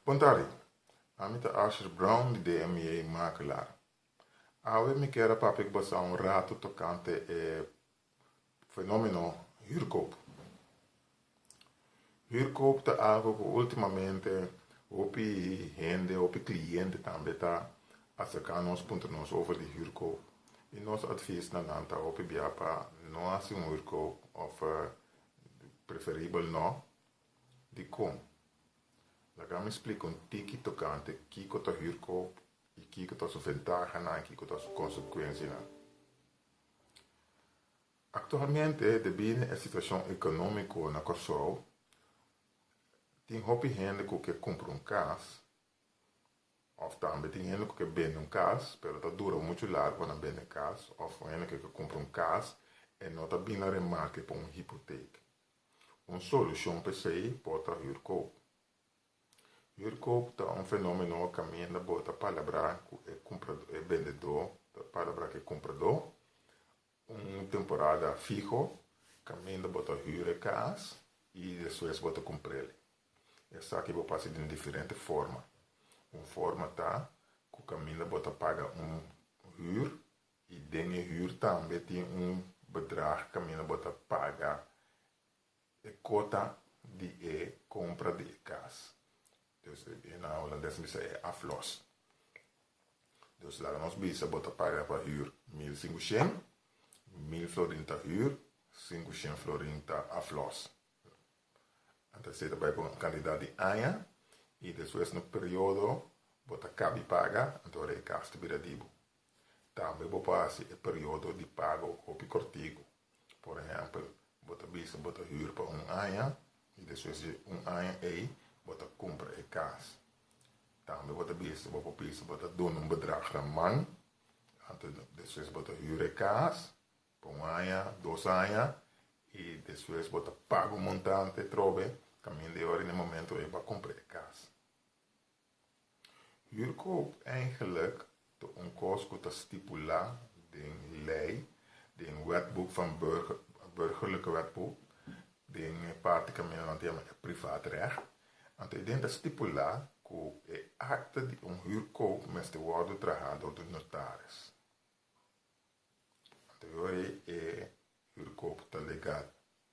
Puntari, Ami ta Asher Brown di DMA Makelaar. Awe mi kier a papia ku boso un ratu tokante e fenomeno hürkoop. Hürkoop ta algo ku ultimamente hopi hende, hopi kliente tambe ta aserka nos puntra nos over di hürkoop. I nos advis na nan ta hopi bia pa no hasi un hürkoop of preferibel no. Dikon? Laga mi splika un tiki tokante kiko ta hürkoop i kiko ta su ventahanan i kiko ta su konsekuensianan. Aktualmente, debinde e situashon ekonómiko na Kòrsou, tin hopi hende ku ke kumpra un kas òf tambe tin hende ku ke bende un kas pero ta dura muchu largu pa nan bende e kas òf hende ku ke kumpra un kas e no ta bin na remarke pa un hipotek. Un solucion pa esey por ta hurkoop. Hurkoop ta un fenomeno caminda bo ta palabra cu e cumprador, e bendedor ta palabra cu e cumprador un temporada fiho caminda bo ta hura e cas y despues bo ta cumprel. Esaki bo pasa den diferente forma. Un forma ta cu caminda bo ta paga un hur I den e huur tambe tin un bedrag kaminda bo ta paga e kota di e kompra di e kas. Dus e na Holandes bisa e afloss. Dus laga nos bisa bo ta paga pa huur mil sinku shen, mil florin ta huur, sinku shen florin ta afloss. Anto esei ta bai pa un kantidat di aña i despues na un periodo bo ta kabi paga anto ora e kas ta bira di bo. Tambe bo por hasi e periodo di pago un hopi kortiku. Por ehèmpel, bo ta bisa bo ta hür pa un aña i despues di un aña ei bo ta kumpra e kas. Tambe bo ta bisa bo por bisa bo ta duna un bedrag raman anto despues bo ta hür e kas pa un aña, dos aña i despues bo ta paga un montante trobe kaminda e ora i na e momento ei bo a kumpra e kas. Huurkoop eigenlijk ta un kos ku ta stipulá den lei, den wetboek van Burgerlijke Wetboek, den e parti ku men lo anto yama e Privaatrecht. Anto e den ta stipulá ku e akta di un huurkoop mester wòrdu trahá dor di notaris. Anto yori e huurkoop ta legal.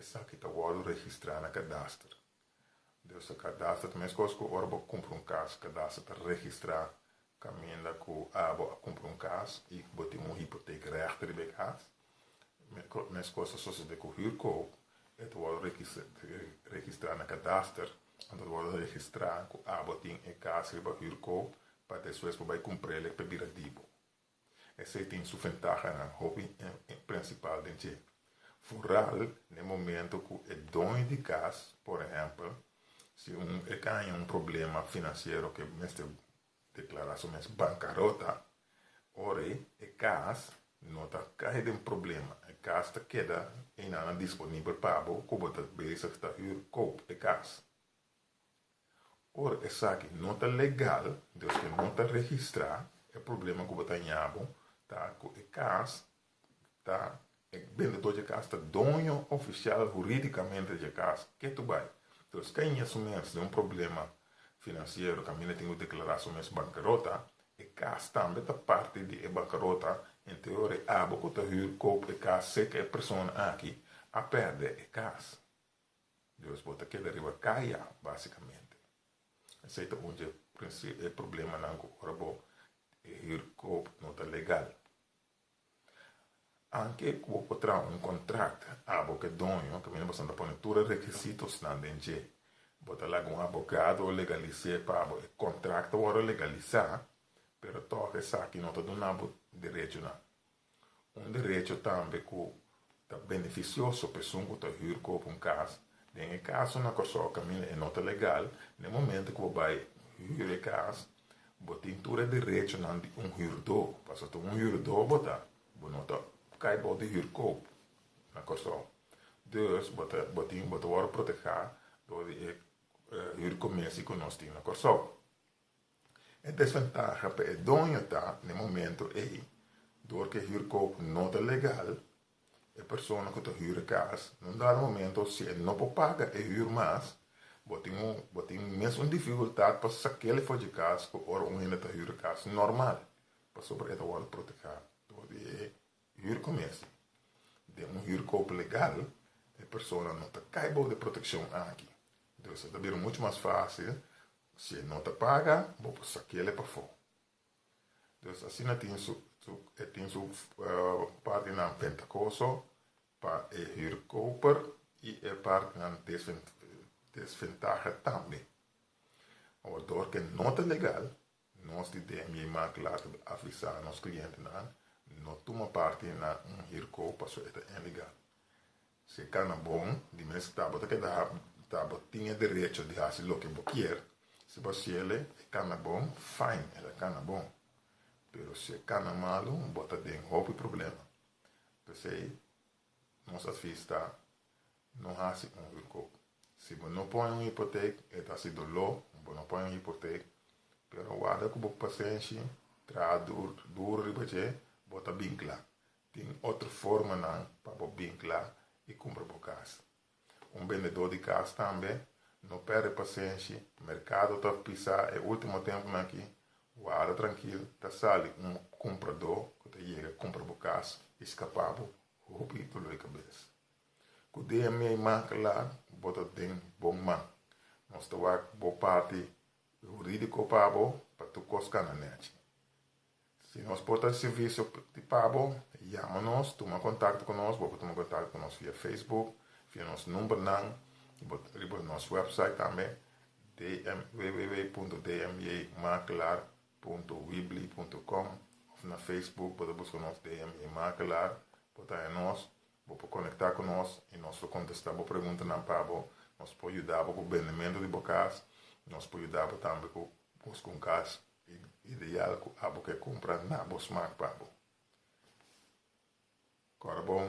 Esaki ta wòrdu registrá na kadaster. Deusa kadaster ta meskos ku ora bo kumpra un kas, kadaster ta registrá kaminda ku abo a kumpra un kas i bo tin un hipotek règte riba e kas. Meskos ta sosodé ku hürkoop, e ta wòrdu registrá na kadaster, anto ta wòrdu registrá ku abo tin e kas riba hürkoop pa despues bo bai kumpr'é lek pa bira di bo. Esei tin su ventahanan, hopi en prinsipal den dje. Vooral na e momento ku e doño di kas, por ehèmpel, si e ta haña un problema finansiero ku e mester deklará su mes bankarota, orei e kas no ta kai den problema, e kas ta keda einanan disponibel pa bo ku bo ta bezig ta hür, koop, e kas. Ora esaki no ta legal, desque no ta registra, e problema cu bo ta ñabo ta cu e cas ta, e bendedor dje cas ta doño oficial huridicamente dje cas. Ke tu bay? Entonces ke ña su mes den un problema financiero, caminda tin cu declara su mes bancarota, e cas tambe ta parti di e bancarota, ente ora e abo cu ta huur koop e cas seca e persona aki a perde e cas. Dios bo ta keda riba kaya basikamente. Esei ta un di e problemanan ku ora bo hurkop no ta legal. Anke ku bo por traha un kontrakt abo ku e doño kaminda bo ta pone tur e rekisitosnan den dje, bo ta laga un abogado legalis'é pa abo. E kontrakt ta wòrdu legalisá pero tòg esaki no ta duna bo derechonan. Un derecho tambe ku ta benefisioso pa esun ku ta hür kopu un kas. Den e kasonan ku a sòk kaminda i no ta legal, na e momento ku bo bai hür e kas, bo tin tur e derechonan di un hürdó, pasobra un hürdó bo ta, bo no ta kai bou di hür kopu na Kòrsou. Dus, bo ta bo tin bo ta wòrdu protehá dor di e hür komesi ku nos tin na Kòrsou. E desventaha pa e doño ta na e momento ei dor ku e hürkoop no ta legal, e persona ku ta hür e kas na un dado momento si e no por paga e hür mas, bo tin un bo tin mes un difikultat pa sak'el for dje kas ku ora un hende ta hür e kas normal pasobra e ta wòrdu protehá dor di e hürko mes. Den un hürkoop legal e persona no ta kai bou di e protekshon aki dor esei ta bira muchu mas fásil Si e no ta paga, bo por sa kele pafó. Dios asina tin su, su, e tin su partinan ventakoso pa e huurkoper i e partinan desven, desventaha tambe. Awor, dor ku e no ta legal, nos di DMJ Mark later avisa nos klientenan no tuma parti na un huurkoop paso e ta ilegal. Si cana bon, di mes ta bo ta keda ta bo tin e derecho di haci loke bo kier. Si bo ciele e cana bon, fijn, el a cana bon. Pero si e cana malu, bo ta den hopi problema. P'esey, nos advies ta, No haci un hurkoop. Si bo no pone un hipoteek, e ta haci doló, bo no pone un hipoteek. Pero a warda cu bo pasenshi, traha duro riba dje, bo ta bin cla. Tin otro formanan pa bo binkla i kumpra bo kas. Un bendedó di kas tambe no pèrdè pasenshi, merkado ta pisá e último tempunan akí, wada trankil ta sali un kumpradó ku ta yega kumpra bo kas i skapá bo hopi doló i kabes. Ku dea mei man kla bo ta den bon man, nos ta wak bo parti hurídiko pa bo pa tur kos kana nèchi. Si nos por ta di servisio di pabo, yama nos, tuma kontakto ku nos, bo por tuma kontakto ku nos via Facebook, via nos numbernan, bo riba nos wèpsait tambe, dm, www.dmjmakelaar.weebly.com, òf na Facebook bo ta buska nos DM J Makelaar, bo ta haña nos, bo por konektá ku nos i nos lo kontestá bo preguntanan pa bo, nos por yuda bo ku bendementu di bo kas, nos por yuda bo tambe ku buska un kas E ideal cu abo ke cumpra na bo smaak pa bo. Cora bon,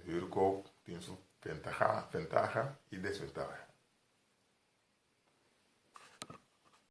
huurkoop tin su ventaha y desventaha.